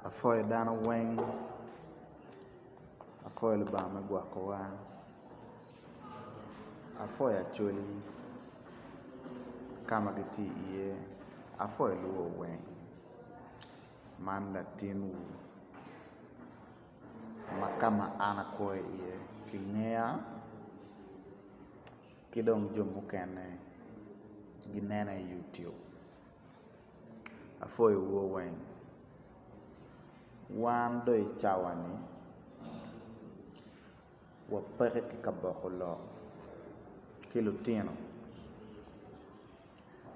Apwoyo dano weng apwoyo lubanga ma gwokowa apwoyo Acholi ka ma gitye iye apwoyo lubo weng man latinwu ma ka ma an akwo iye kingeya. ki dong jo mukene ginena i youtube apwoyo wu weng wan dong i cawa ni wapeke ki ka boko lok ki lutino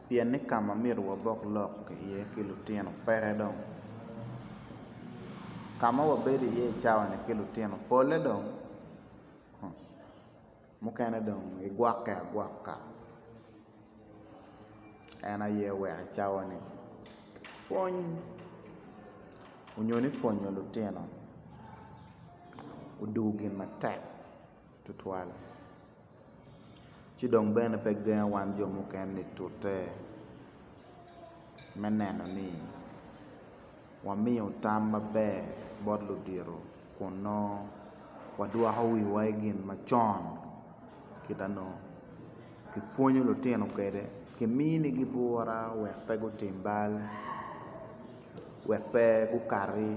pien ni kama myero wabok lok iye ki lutino peke dong kama wabedo iye i cawa ni ki lutino pole dong Mukene dong gigwokke agwokka en aye wek i cawa ni pwony onyo ni pwonyo lutino odugu gin matek tutwal ci dong bene pe gengo wan jo mukene-ni tute me neno ni wamiyo tam maber bot ludito. kun nongo wadwoko wiwa i gin macon kita nongo kipwonyo lutino kwede kiminigi bwura wek pe gutim bal wek pe gukati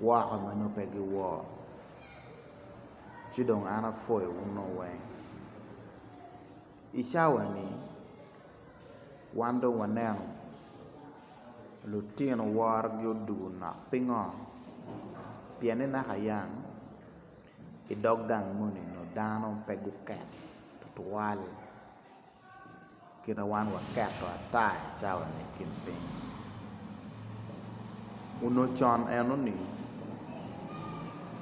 woko ma nongo pe giwor ci dong an apwoyowu nongo weng. I cawani wan dong waneno lutino worogi odwogo nok pingo pienni naka yang i dog gang moni nongo dano pe guket tutwal kite wan waketo ata i cawani i kin piny onongo con enoni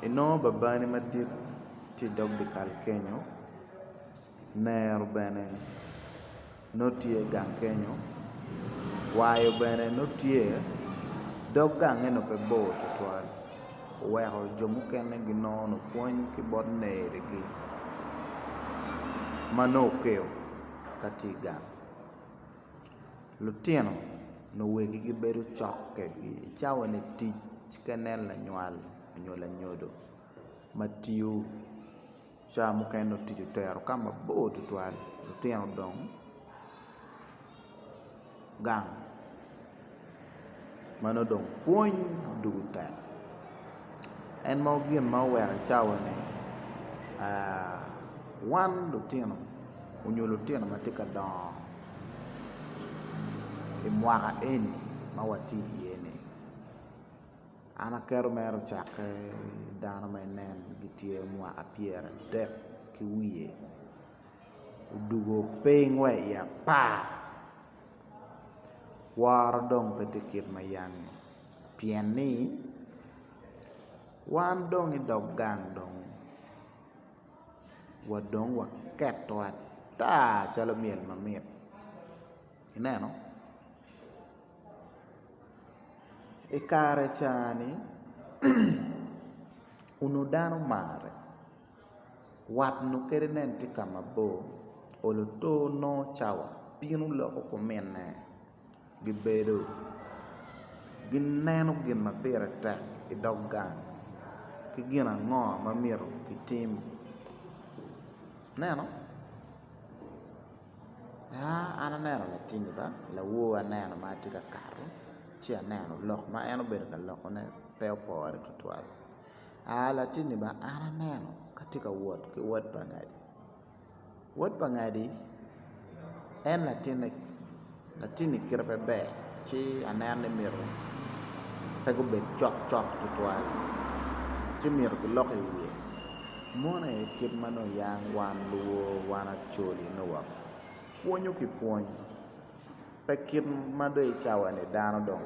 inongo babani madit tye i dog dyekal kenyo. Nero bene nongo tye gang kenyo, wayo bene nongo tye, dog gange nongo pe bor twatwal oweko jo mukene ginongo pwony ki bot nerigi ma nongo okeyo ka tye i gang. Lutino nongo wegi gibedo cok kwedgi i cawa me tic ka inen lanywal nyo lanyodo ma tiyo. Cawa mukene otic otero ka mabor tutwal, lutino odong gang ma nongo dong pwony odoko tek. En ma gin ma oweko i cawa-ni wan lutino nyo lutino ma tye ka dongo i mwaka eni ma watye iye-ni. An aketo mere ocakke dano ma inen gitye mwaka pyeradek ki wiye odwogo piny wa i apar woro dong pe tye kit ma yam-ngi pien ni wan dong idog gang dong wa dong waketo ata calo myel mamit ineno. I kare cani onongo dano marre wat onongo kadi nen tye ka mabor olo to nongo cawa bino loko kuminne gibedo gineno gin ma pire tek i dog gang ki gin ango ma myero kitim ineno. An aneno latinni ba lawor aneno ma tye ka kato ci aneno lok ma en obedo ka lokone pe opore tutwal latinni ba an aneno ka tye ka wot ki wot pa ngadi, wot pa ngadi en latinne. Latinni kite pe ber ci aneno ni myero pe gubed cok cok tutwal ci myero kilok i wiye mon aye kit ma nongo yang wan luwo wan acoli nongo wa pwonyo ki pwony pe kit ma dong i cawani dano dong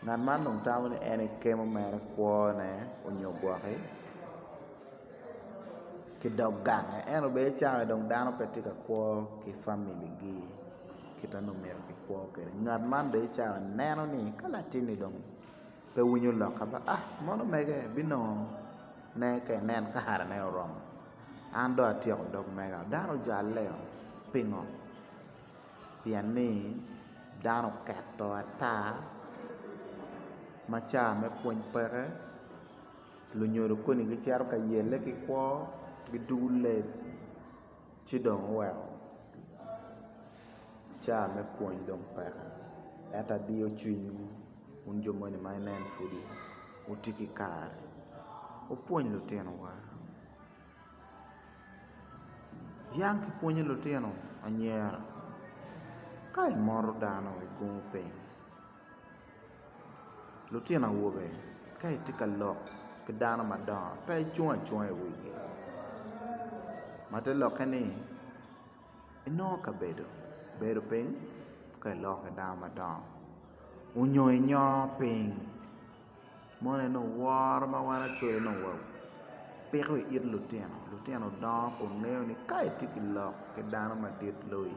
ngat man dong tamo ni en ekemo mere kwone onyo gwoki. ki dog gange en obed cawa dong dano pe tye ka kwo ki famili gi kita nongo myero ki kwo kwede ngat man bene cawa neno ni ka latinni dong pe winyo lokka ba a mono mege binongo ne ka inen kare ne oromo an dong atyeko dog mega dano ojalle oo pingo pien ni dano oketo ata ma cawa me pwony peke Lunyodo koni gicito ka yelle ki kwo, gidugo leb ci dong oweko ca me pwony dong peke. Ento adiyo cwinywu wun jo moni ma inen pudi wutye ki kare, wupwony lutinowa. Yang ki pwonyo lutino anyira ka imoro dano igungo piny. Lutino awobe ka itye ka lok ki dano madongo pe icung acunga i wigi ma te lokke ni inongo kabedo bedo piny ka iloko ki dano madongo onyo inyongo piny moni ni woro ma wan acwele ni wapiko i it lutino, lutino dongo kun ngeyo ni ka itye ka lok ki dano madit loyi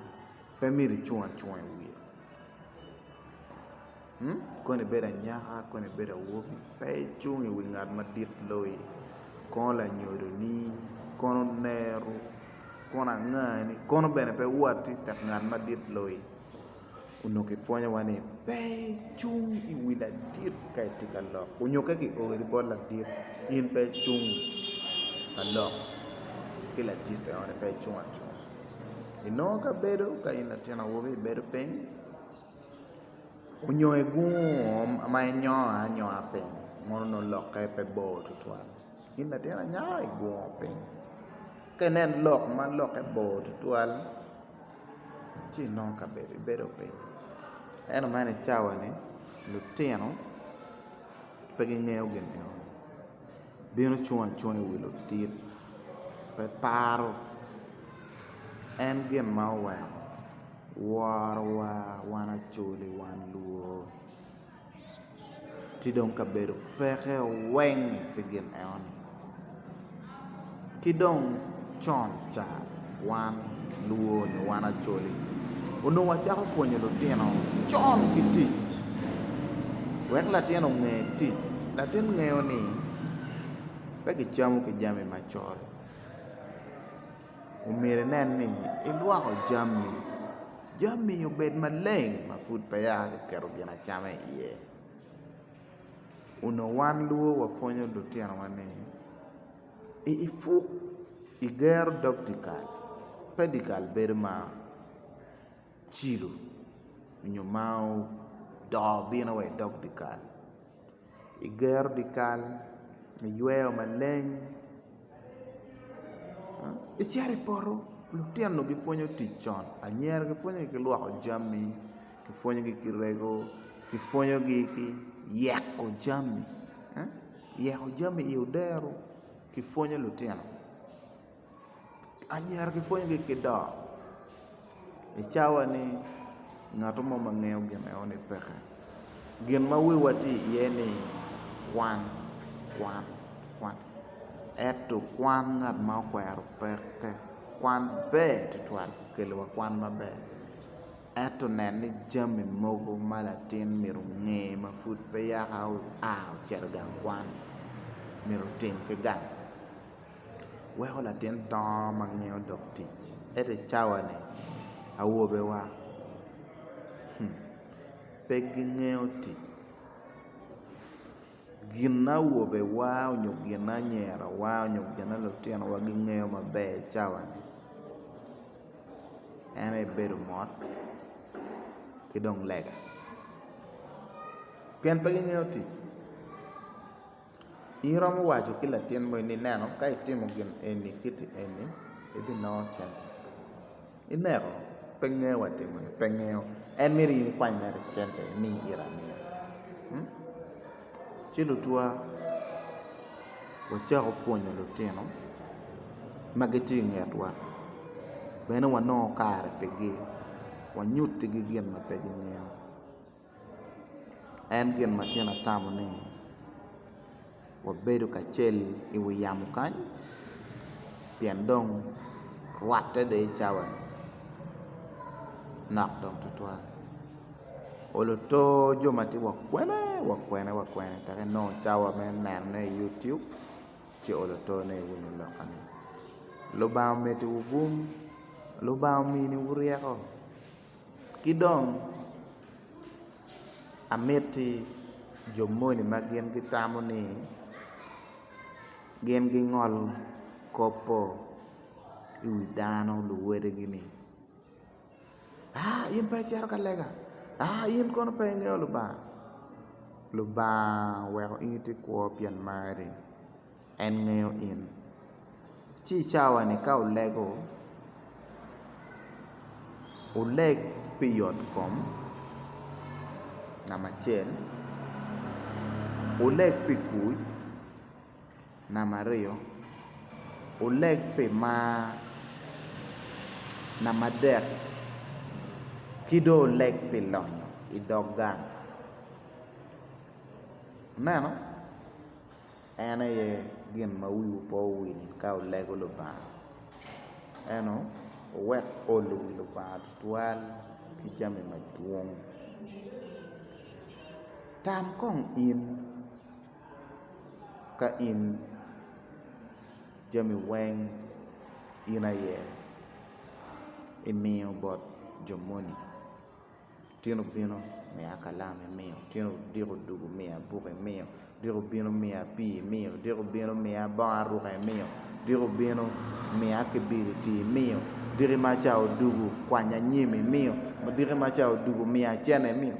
pe myero icung acunga i wiye. Kong ibedo anyaka kong ibedo awobi pe icung iwi ngat madit loyi kono lanyodoni kono oneru kono angani kono bene pe woti itek ngat madit loyi onongo kipwonyo wa ni pe icung iwi ladit ka itye ka lok nyo ka kiori bot ladit in pe icung ka lok ki ladit enoni pe icung acunga. Inongo ka bedo ka in latin awobi ibedo piny onyo igungo ma inyongo anyonga piny mono nongo lokke pe bor tutwal in latin anyaka igungo piny ka inen lok ma lokke bor tutwal ci inongo ka bedo ibedo piny ento man icawani lutino pe gingeyo gin enoni. bino cung acunga iwi lutit pe paro en gin ma oweko worowa wan acoli wan luo ci dong kabedo peke weng pi gin eno ni Ki dong con ca wan luo nyo wan Acholi onongo wacako pwonyo lutino con ki tic wek latin onge tic. Latin ngeyo ni pe kicamo ki jami macol omyero inen ni ilwoko jami, jami obed maleng ma pud pe ya kiketo gin acama iye. Onongo wan luo wapwonyo lutinowa ni. I ipuk i gero dog dyekal, pe dyekal bedo ma ocilo nyo ma odoo bino wa i dog dyekal i gero dyekal iyweyo maleng icito i poto lutino gipwonyo tic con anyira gipwonyo ki lwoko jami kipwonyogi ki rego, kipwonyogi ki yeko jami, yeko jami i odero kipwonyo lutino anyira kipwonyogi ki dok i cawa ni ngat mo ma ngeyo gin eno ni peke gin ma wiwa tye iye ni kwan kwan kwan ento kwan ngat ma okwero peke kwan ber tutwal kikeliwa kwan maber. Ento nen ni jami mogo ma latin myero onge ma pud pe yaka oa ocito i gang kwan myero otim ki gang. Weko latin dongo ma ngeyo dok tic. Ento i cawani awobewa pe gingeyo tic gin awobewa nyo gin anyirawa nyo gin lutinowa gingeyo maber i cawani. en aye bedo mot ki dong lega pien pe gingeyo tic in iromo waco ki latin moni ni neno ka itimo gin eni kiti eni ibinongo cente ineko pe ngeyo wa timone pe ngeyo en myero in ikwany mere cente imiye ite amiya Ci lutwa wacako pwonyo lutino ma gitye i ngetwa bene wanongo kare pigi wanyutigi gin ma pe gingeyo en gin ma tyen atamo ni wabedo kacel i wi yamo kany pien dong rwatte dong i cawa nok dong tutwal. oluto jo ma tye wa kwene wa kwene wa kwene tek enongo cawa me nenone i yutub ci oluto ne i wun muloka ni Lubanga omedewu gung Lubanga ominiwu ryeko ki dong amiti jo moni ma gin gitamo ni gin gingol kop-po i wi dano luwadigi ni in pe icito ka lega? In kono pe ingeyo Lubanga? Lubanga oweko in itye kwo pien mari, en ngeyo in ci i cawani ka olego oleg pi yotkom namba acel oleg pi kuc. Namba aryo, oleg pi mar. Namba adek ki dong oleg pi lonyo i dog gang. Ineno? En aye gin ma wiwu pe owil ka wulego Lubanga. Eno, wuwek olo wi Lubanga tutwal ki jami madwong. Tam kong in. ka in jami weng in aye imiyo bot jo moni, tyen obino miya kalam imiyo, tyen odiko odwogo miya buk imiyo, odiko obino miya pii imiyo, odiko obino miya bongo aruka imiyo, odiko obino miya kibiriti imiyo, odiki ma ca odwogo kwanya nyim imiyo, odiki ma ca odwogo miya cene imiyo.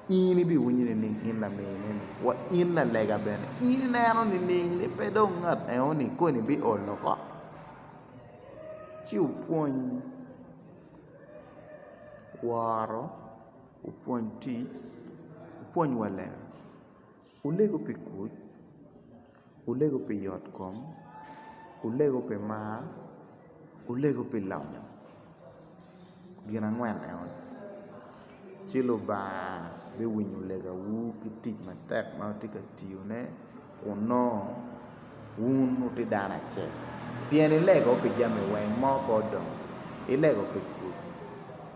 In ibiwinyo nining in lamineni? Wa in lalega bene, in ineno nining ni pe dong ngat enoni koni biol oko? Ci wupwony woro, wupwony tic, wupwony wa lega. Wulego pi kuc, wulego pi yotkom, wulego pi mar, wulego pi lonyo, gin angwen eno, ci Lubanga biwinyo legawu ki tic matek ma wutye ka tiyone kun nongo wun wutye dano acel pien ilego pi jami weng mo pe odong, ilego pi kuc,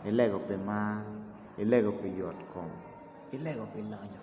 ilego pi mar, ilego pi yotkom, ilego pi lonyo.